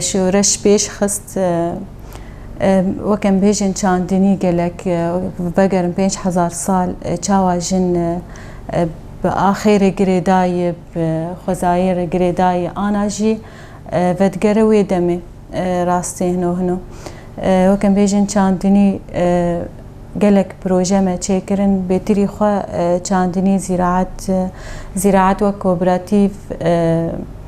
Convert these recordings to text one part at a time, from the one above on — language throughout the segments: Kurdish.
Şoreş pêş xist wek em bêjin çandinî gelek vegerin pênc hezar sal çawa jin bi axêrê girêdayê bi xwezayê re girêdayê ana jî vedigere wê demê rastê hino hino wek em bêjin çandinî gelek proje me çêkirin bêtirî xwe çandinî zîraet zîraet wek kooperatîv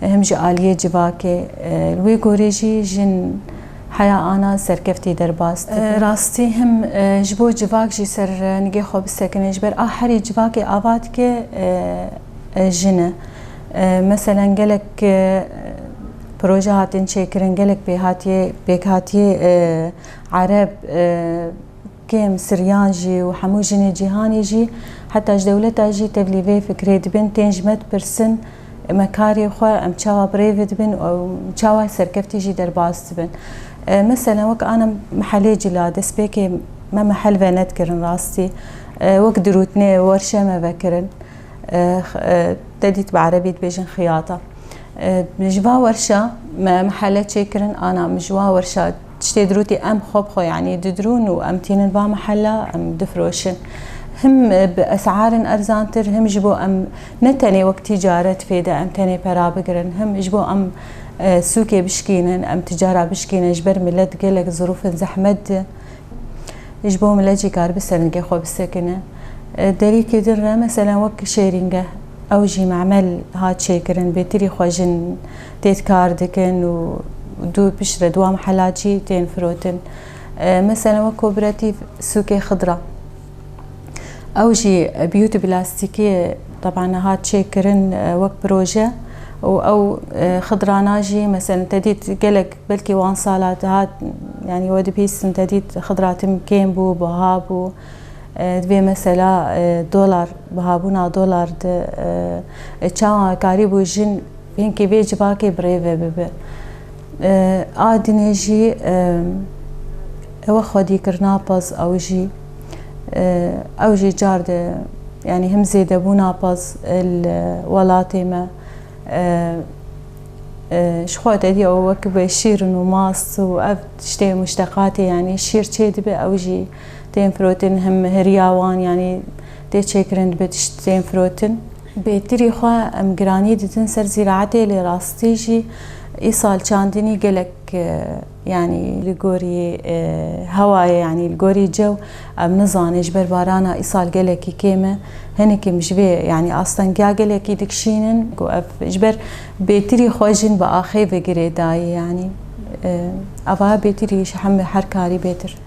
Him ji aliyê civakê. Li wê gorê jî jin heya ana serkeftî derbas dike. Rastî him ji bo civak jî ser nigê xwe bisekine. Ji ber a herî civakê ava dike jin e. Meselen gelek proje hatin çêkirin, gelek pêhatiyê pêkhatiyê ereb, Kêm siryan jî û hemû jinê cîhanê jî heta ji dewleta jî tevlî vê fikirê dibin, tên ji me dipirsin me karê xwe em çawa bi rêve dibin û çawa serkeftî jî derbas dibin. Meselen wek ana mehelê cila destpêkê me mehel venedkirin rastî wek dirûtnê werşe me vekirin te dît bi erebî dibêjin xiyata ji va werşa me mehele çêkirin ana min ji wa werşa Tiştê dirûtî em xwe bi xwe yanî didirûn û em tînin va mehela em difiroşin. Him bi es'arên erzantir him ji bo em ne tenê wek tîcaret pê de em tenê pera bigirin him ji bo em sûkê bişkînin em ticara bişkînin ji ber milet gelek zirûfên zehmet di ji bo milet jî karibi serngê xwe bisekine. Derîkê din re meselen wek Şêrîngeh ew jî memel hat çêkirin bêtirî xwe jin Têt kar dikin û du piştre duam hela çî tên firotin. Meselen wek kooperatîv sûkê xidra. Ew jî biyûtî plastîkî taban hat çêkirin wek proje û ew xidrana jî meselen te dît gelek belkî wan sala hat yanî we dibîstin te dît xidra tim kêm bû, biha bû. Divê mesela dolar bihabûna dolar di çawa karî bû jin Hinkî vê civakê bi rê ve bibe. A dinê jî ewe xwedî kir napez ew jî ew jî car de yanî him zêde bû napez li welatê me ji xwe te dî ew wek be şîrin û mast û ev tiştê muşteqatê yanî şîr çê dibe ew jî tên firotin him hiriya wan yanî tê çêkirin dibe tişt tên firotin. Bêtirî xwe em giranî didin ser zîraetê lê rastî jî îsal çandinî gelek yanî li gorî hewayê yanî li gorî cew em nizanin ji ber barana îsal gelekî kêm e hinek em ji vê yanî astengiya gelekî dikişînin ku ev ji ber bêtirî xwe jin bi axê ve girêdayî yanî ava bêtirî ji hemû her karî bêtir.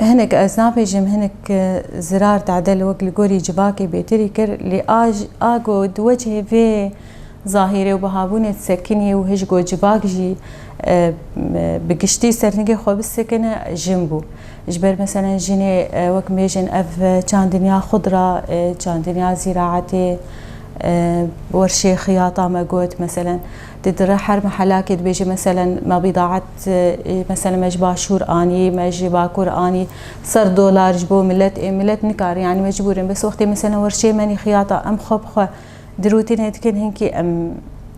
Hinek ez nabêjim hinek zirar tadel wek li gorî civakê bêtirî kir lê a a ku di wecihê vê zahîrê û bihabûnê disekinî û hij ku civak jî bi giştî serhingê xwe bisekine jin bû. Ji ber meselen jinê wek mêjin ev çandinya xudra, çandinya zîraetê, wer şêxiyata me got meselen. Di dire her mehelakê dibêje meselen me bîdaet meselen me ji başûr anî, me ji bakur anî ser dolar ji bo milet ê milet nikare yanî mecbûrin bes wextê meselen werşê menî xiyata em xwe bi xwe di rûtînê dikin hinkî em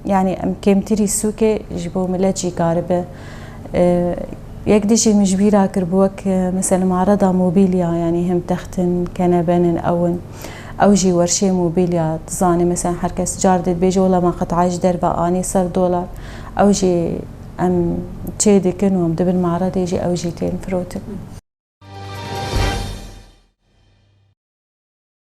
yanî em kêmtirî sûkê ji bo milet jî karibe yek dijî min ji bîra kir bi wek meselen arada mobîlya yanî him textin kenebenin ewin. Ew jî werşê mobîlya dizane mesela her kes car dê dibêje wela me qitayê ji derve anî ser dolar ew jî em çê dikin û em di bin meredê jî ew jî tên firotin.